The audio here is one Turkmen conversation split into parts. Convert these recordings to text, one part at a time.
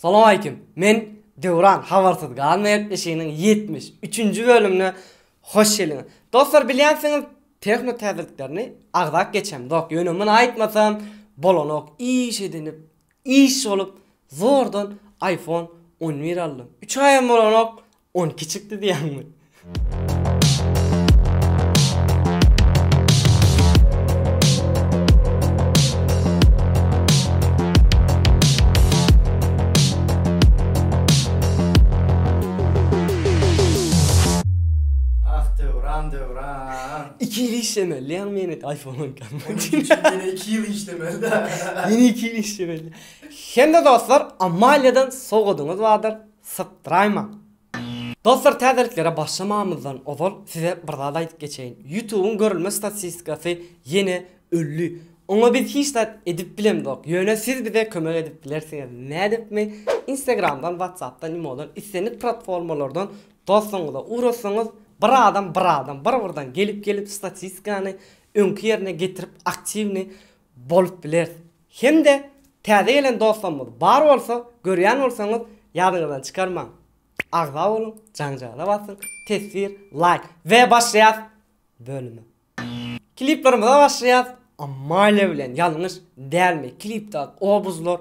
Salowaleýkim. Men Döwran habarsyz galmaýar eşiginiň ýetmiş üçünji bölümine hoş geldiňiz. Dostlar bilýänsiňiz tehno täzeliklerini agzap geçemzok. Ýöne muny aýtmasam bolanok. Iş edinip, iş bolup zordan iPhone on bir aldym. Üç aýam bolanok, On kiçikdi diýýäňmi? Ah Döwran Döwran. Iki ýyl işlemelidiýaň meni iPhone on iki almak üçin. Onuň üçin ýene iki ýyl işlemeli-dä. Ýene iki ýyl işlemeli. Hem-de dostlar Amaliýadan sowgadyňyz bardyr. Sykdyraymaň. Dostlar täzeliklere başlamamyzdan ozal size bir zat aýdyp geçeýin. Ýutubyň görülme statistikasy ýene ölli. Oňa biz hiç zat edip bilemzok. Ýöne siz bize kömek edip bilersiňiz. Nädipmi? Instagramdan, Whatsappdan, Imodan islendik platformalardan dostuňyza ugratsaňyz bir adam bir adam bir birden gelip gelip statistikany öňki ýerine getirip aktiwny bolup bileris. Hem-de täze gelen dostlarymyz bar bolsa, görýän bolsaňyz, ýadyňyzdan çykarmaň. Agza boluň, jaňjagyza basyň, teswir, laýk. We başlaýas bölüme. Kliplerimize başlaýas. Amalia bilen ýalňyş dälmi klipdaky obuzlar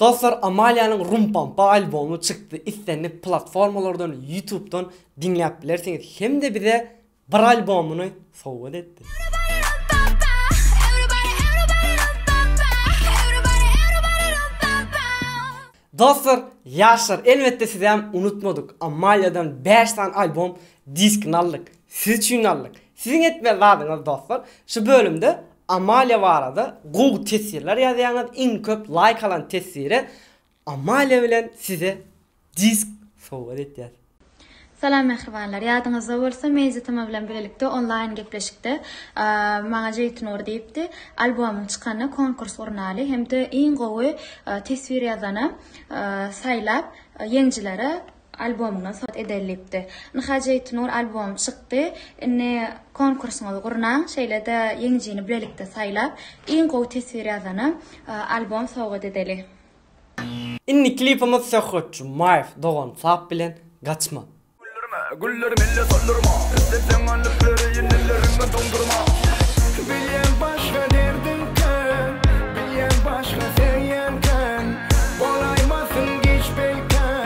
Dostlar Amalianyň Rumpampa albomy çykdy islendik platformalardan ýutubdan diňläp bilersiňiz hemde bize bir albomyny sowgat etdi. Dostlar ýaşlar elbetde sizäm unutmadyk Amaliadan bäş sany albom diskini aldyk siz üçin aldyk siziň etmeli zadyňyz dostlar şu bölümde Amalia barada gowy teswirler ýazýaňyz iň köp laýk alan teswire Amalia bilen size disk sowgat etýäs. Salam mähribanlar! Ýadyňyzda bolsa men Zitama bilen bilelikde onlaýn gepleşikde maňa Jeýtnur diýipdi, albomyň çykanda konkurs gurnaly hem-de iň gowy teswir ýazana saýlap ýeňjilere albomyna sot edellipdi. Nhj Aytnur albomy çykdy. Indi konkursyňyzy gurnaň, şeýle-de ýeňijini bilelikde saýlap, iň gowy teswir ýazana albom sowgat edeli. Indi klipimiz Söhbetçi Maýew dogan sap bilen gaçma. Güldirme, güller melle soldurma, Islet ýaňa lüpleri, inileriňe doňdurma. Bilýän başga derdiň kän, Bilýän başga söýýän kän, Bolaýmasyn giç peýkän.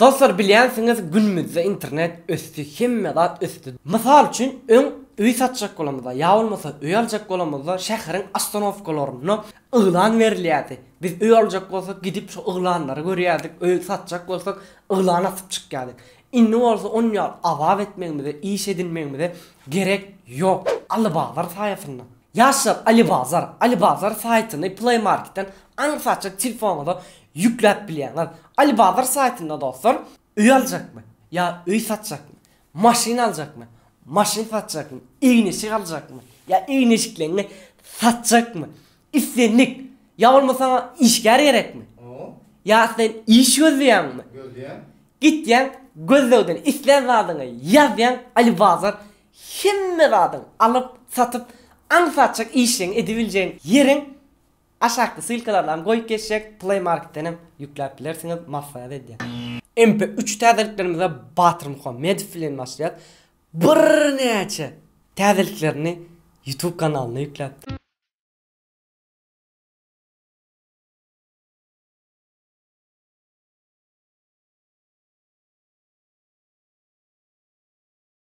Dostlar bilýänsiňiz günümizde internet ösdi hemme zat ösdi mysal üçin öň öý satjak bolamyzda ýa bolmasa öý aljak bolamyzda şäheriň ostanowkalarynda yglan berilýärdi biz öý aljak bolsak gidip şo yglanlary görýärdik öý satjak bolsak yglan asyp çykýardyk indi bolsa on ýaly azap etmegimize iş edinmegimize gerek ýok Alibazar saýasynda. Ýaşlar Alibazar, Alibazar saýtyny Play Marketden aňsatjak telefonyňyza ýükläp bilýäňiz. Alibazar saýtynda dostlar, öý aljakmy? Ýa öý satjakmy? Maşyn aljakmy? Maşyn satjakmy? Egin-eşik aljakmy? Ýa egin-eşikleňňi satjakmy? Islendik, ýa bolma saňa işgär gerekmi? Ýa sen iş gözleýäňmi? Gitýäň, gözlegden islän zadyňy ýazýaň, Alibazar Hemme zadyň alyp, satyp, aňsatjak işleň edibiljegiň ýeriň aşakky ssylkalaryny goýup geçjek Play Marketden hem ýükläp bilersiňiz maslahat edýän. MP üç täzeliklerimize Batyr Muhammedow bilen başlaýas birnäçe täzeliklerini YouTube kanalyna ýükläpdir.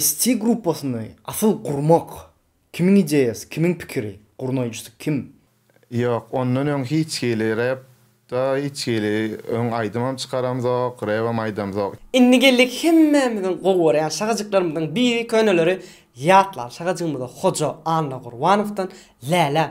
ST gruppasyny asyl gurmak kimiň ideýasy, kimiň pikiri, gurnaýjysy kim? Ýok, ondan öň hiç hili rep da hiç hili öň aýdymam çykaramzok, rebem aýdamzok. Indi geldik hemmämiziň gowy görýän şagajyklarymyzyň biri köneleri ýatlan şagajygymyza Hoja Annagurbanow dan Läläm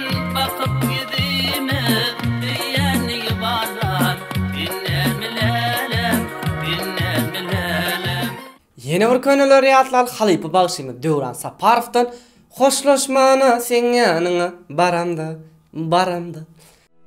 Ýene bir köneleri ýatlaly halypa bagşymyz Döwran Saparowdan Hoşlaşmana seň ýanyňa baramda, baramda.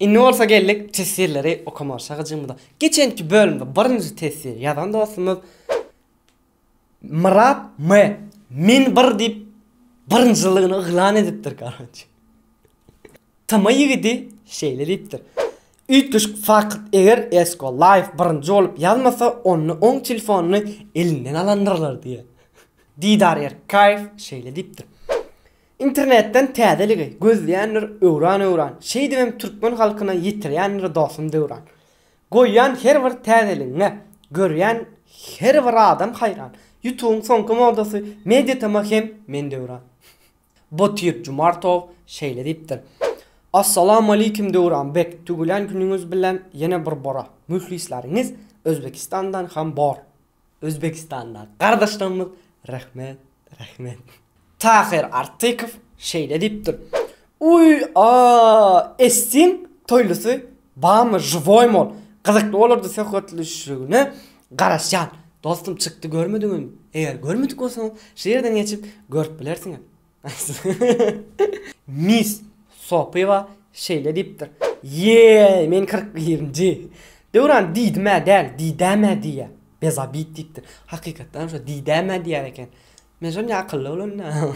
Indi bolsa geldik teswirleri okamaga çakyjymyza. Geçenki bölümde birinji teswiri ýazan dostumyz Myrat M. Men bir diýip birinjiligini yglan edipdir garonç. Tma ýigidi şeýle diýipdir. Üýtgeşik fakt eger Esko Life birinji bolup ýazmasa onda oň telefonyny elinden alandyrlar diýýär. Didar Erkaýew şeýle diýipdir. Internetden täzeligi gözleýändir öwran-öwran, Şeýdibem türkmen halkyna ýetirýändir dostum döwran. Goýýan her bir täzeligiňe, görýän her bir adam haýran, Ýutubyň soňky modasy Mediatm-a hem men döwran. Botyr Jumartow şeýle diýipdir, Assalamualeýkum Döwran beg, tüwelän günüňiz bilen ýene bir bora, Mühlisläriňiz Özbekistandan hem bor. Özbekistanda gardaşlarymyz rehmet rehmet. Tahyr Artykow şeýle diýipdir, Uý aaa Estin toýlusy bamy žywoýmy ol gyzykly bolardy söhbetleşişligine garaşýan dostum çykdy görmediňizmi eger görmedik bolsaňyz şu ýerden geçip görüp bilersiňiz Miss Sopyýewa şeýle diýipdir, Ýeý, men kyrk birinji. Döwran diýdim-ä däl, diýdäm-ä diýýä. Bezabit diýipdir, Hakykatdanam şo diýdäm-ä diýýär eken. Men şol ne akylly bolanda.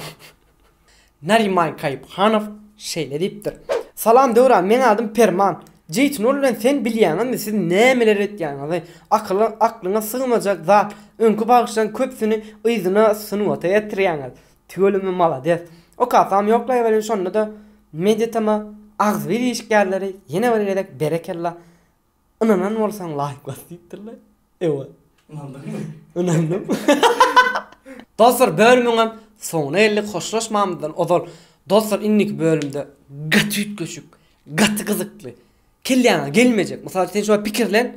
Nariman Kaýyphanow şeýle diýipdir, Salam, Döwran, meň adym Perman. Jeýtun bilen sen bilýäňizmi, siz nämeler etýäňizi? Akyla, aklyňa sygmajak zat. Öňki bagşylaryň köpüsini yzyna sungata getirýäňiz. Tüweleme malades. Okasam ýoklaýweriň şonda-da mediatama agzybir işgärleri ýene bir gezek berekella ynanan bolsaň laýk bas diýipdirler. Ewa. Ynandyňmy? Ynandym. Dostlar bölümiňem soňuna geldik hoşlaşmamyzdan ozal dostlar indiki bölümde gaty üýtgeşik gaty gyzykly kelläňe gelmejek mysal üçin sen şuňa pikirlen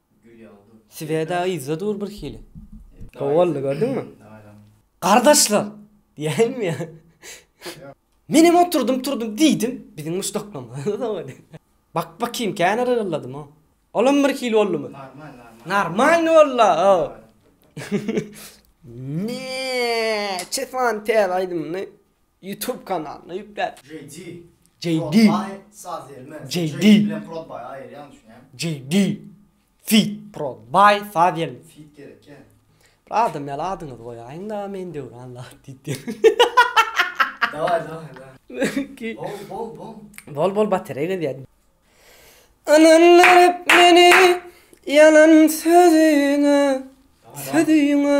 Sweda yzda dur bir hili. Gowy boldy gördüňmi? Gardaşlar! Diýäýinmi ýa? Menem oturdym turdum diýdim. Biziň muşdaklamarymyz dogry. Bak bakýyn kän yrgylladym o. Olam bir hili boldumy? Normal normal. Normalny bolda o. Neeeeçe sany täze aýdymyny. Youtube kanalyna ýükläp. JD. JD. Prodby Saziel men JD. JD bilen Prodby aýyrýan düşünýän. JD. Feat Prodby Saziel. Feat gerekýä. Bir adam ýaly adyňyzy goýaýyňda men Döwran la diýip diýer. Daway daway daway. Ki. Bol bol bol. Bol bol baterey gezýär. Ynandyryp meni ýalan sözüňe sözüňe.